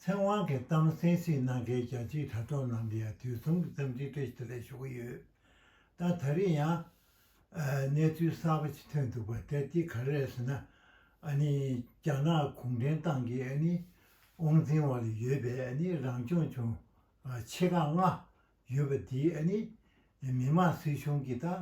ཚེ་དབང་གིས་གཏམ་གསལ་བཤད་གནང་མཁན་རྒྱ་ཆེའི་དྲ་གྲོགས་རྣམས་ལ་ཡང་དུས་མཚུངས་ཀྱི་འཚམས་འདྲིའི་བཀྲ་ཤིས་བདེ་ལེགས་ཞུ་གི་ཡོད། ད་ད་རིང་ཡང། གནས་ཚུལ་གསར་པ་ཞིག་ཐོན་འདུག་པ་དེ་དེ་ག་རེད་ཟེར་ན། ཨ་ནི་རྒྱ་ནག་གུང་ཁྲན་ཏང་གི་ཨ་ནི་དབང་འཛིན་བ་ལ་ཡོད་པའི་ཨ་ནི་རང་སྐྱོང་ལྗོངས། ཆེ་ཁག་ལྔ། ཡོད་པ་དེའི་ཨ་ནི་མི་དམངས་སྲིད་གཞུང་གི་ཏང་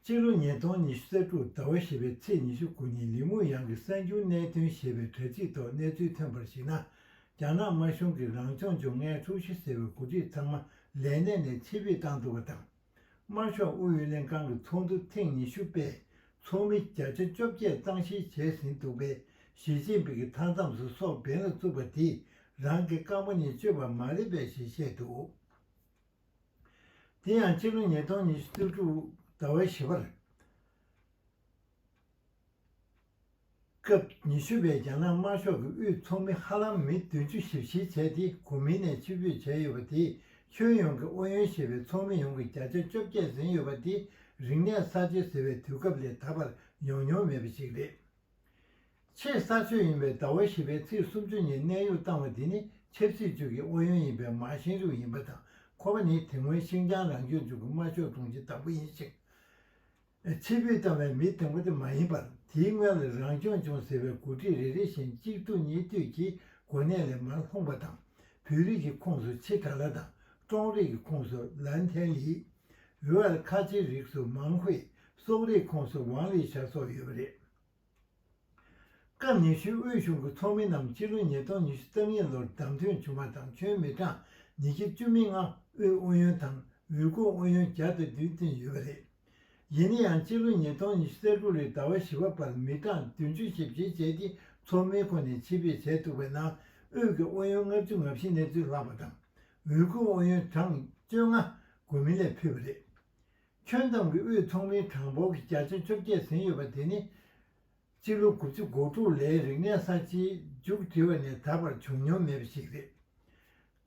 སྤྱི་ལོ་ཉིས་སྟོང་ཉི་ཤུ་རྩ་དྲུག་ཟླ་བ་བཞི་པའི་ཚེས་ཉི་ཤུ་དགུ་ཉིན་ལི་མུའུ་ཡང་གི་གསར་འགྱུར་གནད་དོན་ཞེས་པའི་དྲ་ཚིགས་ཐོག་གནས་ཚུལ་ཐོན་པར་གཞིགས་ན། རྒྱ་ནག་དམར་གཞུང་གིས་རང་སྐྱོང་ལྗོངས་ལྔའི་ཀྲུའུ་ཞི་ཟེར་བའི་འགོ་ཁྲིད་ཚང་མ་ལས་གནས་ནས་ཕྱིར་ཕུད་བཏང་འདུག་པ་དང། དམར་ཤོག་ཨུ་ཡོན་ལྷན་ཁང་གི་ཚོགས་འདུ་ཐེངས་ཉི་ཤུ་པས་ཚོགས་མི་བརྒྱ་ཆ་བཅོ་བརྒྱད་གཙང་བཤེར་བྱས་ཟིན་འདུག་པས་ཞི་ཅིན་ཕིང་གི་མཐའ་མཚམས་སུ་སོག་འབེན་ལ་བཙུགས་པ་དེ་རང་གི་རྐང་པ་ཉིད་གཅོད་པ་མ་རེད་པས་ཞེས་བཤད་འདུག། དེ་ཡང་སྤྱི་ལོ་ཉིས་སྟོང་ཉི་ཤུ་བཅུ་དྲུག་ཟླ་བའི་བཞི་བར། སྐབས་ཉི་ཤུ་པའི་རྒྱ་ནག་དམར་ཤོག་གི་དབུས་ཚོགས་མི་ཧ་ལམ་མི་བདུན་ཅུ་ཞིབ་བཤེར་བྱས་ཏེ་གོ་མིན་ནས་ཕྱིར་ཕུད་བྱས་ཡོད་པ་དེས་ཁྱོན་ཡོངས་ཀྱི་ཨོ་ཡོན་ཞེས་པའི་ཚོགས་མི་ཡོངས་ཀྱི་བརྒྱ་ཆ་བཅོ་བརྒྱད་ཟིན་ཡོད་པ་འདི་རིག་གནས་གསར་བརྗེ་ཟེར་བའི་དུས་སྐབས་ལས་ད་བར་ཡོང་མྱོང་མེད་པ་ཞིག་རེད། ཆེས་གསར་ཤོས་ཡིན་པའི་ཟླ་བ་བཞི་པའི་ཚེས་སུམ་ཅུ་ཉིན་གནས་དབྱུག་བཏང་བ་དེ་ནི་ཆབ་སྲིད་ཅུས་ཀྱི་ཨོ་ཡོན་ཡིན་པའི་མཱ་ཤིན་རུའུ་ཡིན་པ་དང་ཁོ་པ་ནི་དེ་སྔོན་ཤིང་ཅང་རང་སྐྱོང་ལྗོངས་ཀྱི་དམར་ཤོག་དྲུང་ཆེ་དང་པོ་ཡིན་ཞིང། ཆེས་ཕུད་བཏང་བའི་མི་དང་པོ་དེ་མ་ཡིན་པར་དེའི་སྔོན་ལ་རང་སྐྱོང་ལྗོངས་ཟེར་བའི་འགོ་ཁྲིད་རེ་རེ་བཞིན་གཅིག་ཐུག་གཉིས་ཐུག་གིས་གོ་གནས་ལས་མར་ལྷུང་བ་དང་བོད་རིགས་ཀྱི་ཁོངས་སུ་ཆི་ཀྲ་ལཱ་དང་ཀྲོང་རིགས་ཀྱི་ཁོངས་སུ་ལཱན་ཐན་ལིའུ་ཨར་ཁ་ཆིའི་རིགས་སུ་མཱང་ཧུའེ་སོག་རིགས་ཁོངས་སུ་ཝང་ལི་ཞཱ་སོགས་ཡོད་པ་རེད། སྐབས་ཉི་ཤུའི་དབུས་གཞུང་གི་ཚོགས་མི་རྣམས་སྤྱི་ལོ་ཉིས་སྟོང་ཉི་ཤུ་རྩ་གཉིས་ལོར་བདམས་ཐོན་བྱུང་བ་དང་ཁྱོན་མི་གྲངས་ཉིས་བརྒྱ་བཅུ་མི་ལྔ་དབུས་ཨུ་ཡོན་དང་འོས་སྐུ་ཨུ་ཡོན་བརྒྱ་དང་བདུན་བཏོན་ཡོད་པ་རེད། ཡིན་ན་ཡང་སྤྱི་ལོ་ཉིས་སྟོང་ཉི་ཤུ་རྩ་དགུ་ལོའི་ཟླ་བ་བཞི་བ་བར་མི་གྲངས་བདུན་ཅུ་ཞིབ་བཤེར་བྱས་ཏེ་ཚོགས་མི་ཁོ་ནས་ཕྱིར་ཕེབས་བྱས་འདུག་པའི་ནང་དབུས་ཀྱི་ཨུ་ཡོན་ལྔ་བཅུ་ང་བཞི་གནས་ཚུལ་ལྷག་པ་དང་འོས་སྐུ་ཨུ་ཡོན་གྲངས་བཅོ་ལྔ་དགོས་མིན་ལས་ཕུད་པ་རེད། ཁྱོན་ཏང་གི་དབུས་ཚོགས་མིའི་གྲངས་འབོར་གྱི་བརྒྱ་ཆ་བཅོ་བརྒྱད་ཟིན་ཡོད་པ་དེ་ནི། སྤྱི་ལོ་དགུ་བཅུ་གོ་དྲུག་ལས་རིག་གནས་གསར་བརྗེའི་མཇུག་སྒྲིལ་བ་ནས་ད་བར་བྱུང་མྱོང་མེད་པ་ཞིག་རེད།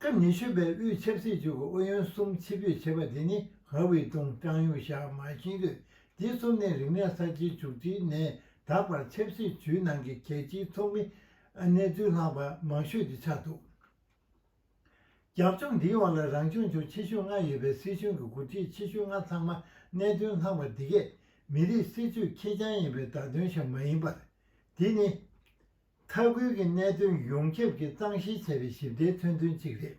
སྐབས་ཉི་ཤུ་པའི་དབུས་ཆབ་སྲིད་ཅུའུ་གི་ཨུ་ཡོན་གསུམ་ཕྱི་ཕུད་བྱེད་པ་དེ་ནི་ཧྭ་ཝུའེ་ཏུང་ཀྲང་ཡུང་ཞའོ་མཱ་ཤིན་ལུས་འདི་གསུམ་ནས་རིག་གནས་གསར་བརྗེའི་མཇུག་སྒྲིལ་ནས་ད་བར་ཆབ་སྲིད་ཇུས་ནང་གི་གལ་ཆེའི་ཚོགས་མི་གནས་ཚུལ་ལྷག་པ་མང་ཤོས་དེ་ཆགས་འདུག། རྒྱབ་ལྗོངས་འདིའི་འོག་ལ་རང་སྐྱོང་ལྗོངས་ཆེ་ཤོས་ལྔ་ཡོད་པའི་སྲིད་གཞུང་གི་འགོ་ཁྲིད་ཆེ་ཤོས་ལྔ་ཚང་མ་གནད་དོན་ལྷག་པ་འདི་གས་མི་རིགས་སྲིད་ཇུས་ཁེར་རྐྱང་ཡིན་པའི་བརྡ་དོན་ཞིག་མ་ཡིན་པར། འདི་ནི། མཐའ་ཁུལ་གྱི་གནད་དོན་ཡོངས་ཁྱབ་ཀྱིས་གཙང་བཤེར་བྱས་པའི་ཞིབ་ཕྲའི་མཚོན་དོན་གཅིག་རེད།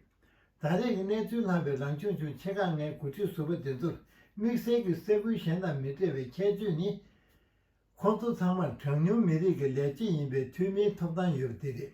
ད་རེས་ཀྱི་གནས་ཚུལ་ལྷག་པའི་རང་སྐྱོང་ལྗོངས་ཆེ་ཁག་ལྔའི་འགོ་ཁྲིད་ཟུར་པ་དེ་ཚོར་དམིགས་བསལ་གྱི་ས་ཁུལ་གཞན་དང་མི་འདྲ་བའི་ཁྱད་ཆོས་ནི། ཁོང་ཚོ་ཚང་མར་གྲངས་ཉུང་མི་རིགས་ཀྱི་ལས་བྱེད་ཡིན་པའི་འཐུས་མིའི་ཐོབ་ཐང་ཡོད་པ་དེ་རེད།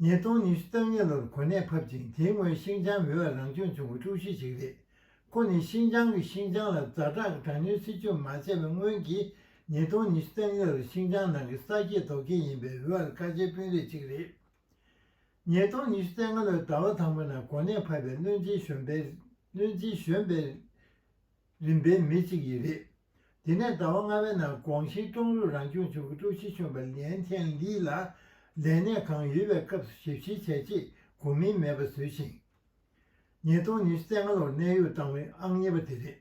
ཉིས་སྟོང་ཉི་ཤུ་རྩ་གཉིས་ལོར་གོ་གནས་ཕབ་ཅིང་དེའི་སྔོན་ཤིང་ཅང་མི་བ་རང་སྐྱོང་ལྗོངས་ཀྱི་ཀྲུའུ་ཞི་ཞིག་རེད། ཁོ་ནི་ཤིང་ཅང་གིས་ཤིང་ཅང་ལ་རྫ་དྲག་དྲག་ཉོའི་སྲིད་ཇུས་མ་བྱས་པའི་སྔོན་གྱི་ཉིས་སྟོང་ཉི་ཤུ་རྩ་གཉིས་ལོར་ཤིང་ཅང་ནང་གི་ས་སྐྱེས་རྡོ་སྐྱེས་ཡིན་པའི་བི་བ་ལ་ཁ་ཆེའི་དཔོན་རིགས་གཅིག་རེད། ཉིས་སྟོང་ཉི་ཤུ་རྩ་ལྔ་ལོའི་ཟླ་བ་དང་པོ་ནང་གོ་གནས་ཕབ་པའི་བློན་ཆེན་གཞོན་པའི་བློན་ཆེན་གཞོན་པའི་རིམ་པའི་མི་གཅིག་ཡིན་རེད། དེ་ནས་ཟླ་བ་ལྔ་བའི་ནང་ཀོང་ཞིའི་ཀྲོང་རུས་རང་སྐྱོང་ཅུའུ་གྱི་ཀྲུའུ་ཞི་གཞོན་པ་ལིན་ཅན་ལིས་ལ་ལས་གནས་གང་ཡོད་པའི་སྐབས་སུ་ཞིབ་བཤེར་བྱས་རྗེས་གོ་མིན་མེད་པ་བཟོས་ཤིང། ཉིས་སྟོང་ཉི་ཤུ་ཚེས་ལྔ་ལོར་གནས་དབྱུག་བཏང་བའི་ཨང་གཉིས་པ་དེ་རེད།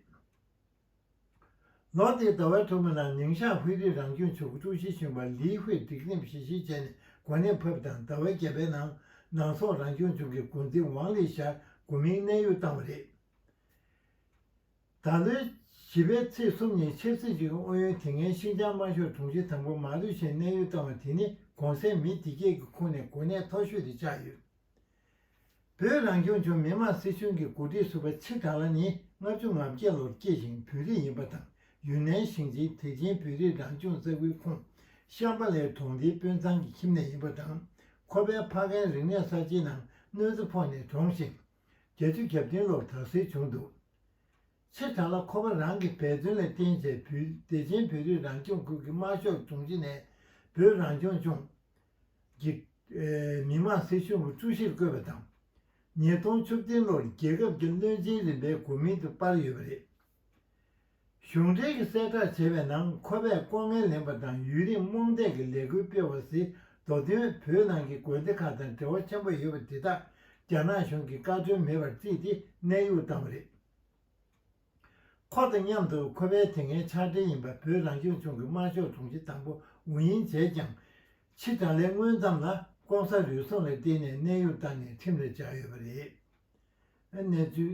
ལོ་དེའི་ཟླ་བའི་དྲུག་པའི་ནང་ནིང་ཞང་ཧུའེ་རིགས་རང་སྐྱོང་ཅུའུ་གྱི་ཀྲུའུ་ཞི་གཞོན་པ་ལིས་ཧུའེ་སྒྲིག་འཛིན་བཞེས་ཤིང་བྱས་ནས་གོ་གནས་ཕབ་དང་ཟླ་བའི་བརྒྱད་པའི་ནང་ནང་སོག་རང་སྐྱོང་ལྗོངས་ཀྱི་འགོ་འཛིན་ཝང་ལི་ཞཱ་གོ་མིན་གནས་དབྱུག་བཏང་བ་རེད། ད་ལོའི་བྱིས་པའི་ཚེས་གསུམ་ཉིན་ཆབ་སྲིད་ཅུའི་ཨུ་ཡོན་དེ་སྔའི་ཤིན་ཅང་དམར་ཤོག་དྲུང་ཆེ་དང་པོ་མཱ་ལུས་ཞན་གནས་ཡུལ་བཏང་བ་དེ་ནི་གོང་གསལ་མི་སྡེ་བརྒྱད་ཀྱི་ཁོངས་ནས་གོ་གནས་མཐོ་ཤོས་དུ་ཆགས་ཡོད། བོད་རང་སྐྱོང་ལྗོངས་མི་དམངས་སྲིད་གཞུང་གི་འགོ་ཁྲིད་ཟུར་པ་ཆི་ཀ་ལ་ནི་ལྔ་བཅུ་ང་བརྒྱད་ལོར་སྐྱེས་ཤིང་བོད་རིགས་ཡིན་པ་དང་ཡུན་ནན་ཞིང་ཆེན་ཐེག་ཆེན་བོད་རིགས་རང་སྐྱོང་ས་ཁུལ་ཁོངས་ཤམ་བྷ་ལའི་གྲོང་སྡེའི་དཔོན་ཚང་གི་ཁྱིམ་ནས་ཡིན་པ་དང་ཁོ་པའི་ཕ་རྒན་རིག་གནས་གསར་བརྗེའི་ནང་གནོད་འཚེ་ཕོག་ནས་གྲོངས་ཤིང། རྒྱལ་སྤྱིའི་རྒྱབ་རྟེན་ལོར་དྲག་སེལ་བྱུང་འདུག་ཚེ་གྲང་ལ་ཁོ་པ་རང་གི་འབད་བརྩོན་ལ་རྟེན་བཅས་བུད་བདེ་ཆེན་བོད་རིགས་རང་སྐྱོང་ཁུལ་གྱི་དམར་ཤོག་རྫོང་བཞི་ནས་བོད་རང་སྐྱོང་ལྗོངས་ཀྱི་མི་དམངས་སྲིད་གཞུང་གི་ཀྲུའུ་ཞིར་བསྐོས་པ་དང། ཉིས་སྟོང་བཅུ་བདུན་ལོར་རྒྱལ་ཁབ་ཀྱི་བློན་ཆེན་རིམ་པའི་གོ་མིང་དུ་དཔར་ཡོད་པ་རེད། གཞུང་འབྲེལ་གྱི་གསལ་བསྒྲགས་བྱས་པའི་ནང་ཁོ་པས་ལྐོག་རྔན་ལེན་པ་དང་ཡུན་རིང་རྨོངས་དད་ཀྱི་ལས་འགུལ་སྤེལ་བ་སི་མདོ་དོན་བོད་ནང་གི་དགོན་སྡེ་ཁག་དང་འབྲེལ་བ་ཆེན་པོ་ཡོད་པ་དེ་དག་རྒྱ་ནག་གཞུང་གིས་བཀའ་ཁྲོལ་མེད་པར་རྩིས་ཏེ་གནས་དབྱུག་བཏང་བ་རེད། ཁོ་དང་མཉམ་དུ་ཁོ་པའི་དེ་སྔའི་ཕྱག་སྦྲེལ་ཡིན་པ་བོད་རང་སྐྱོང་ལྗོངས་ཀྱི་དམར་ཤོག་དྲུང་ཆེ་དང་པོ་ཝུ་ཡིན་ཇེས་ཀྱང། ཕྱི་དྲག་ལས་སྔོན་ཙམ་ལ་ལྐོག་ཟ་རུལ་སུངས་ལ་བརྟེན་ནས་གནས་དབྱུག་བཏང་ནས་ཁྲིམས་ལ་བཅར་ཡོད་པ་རེད། གནས་ཚུལ།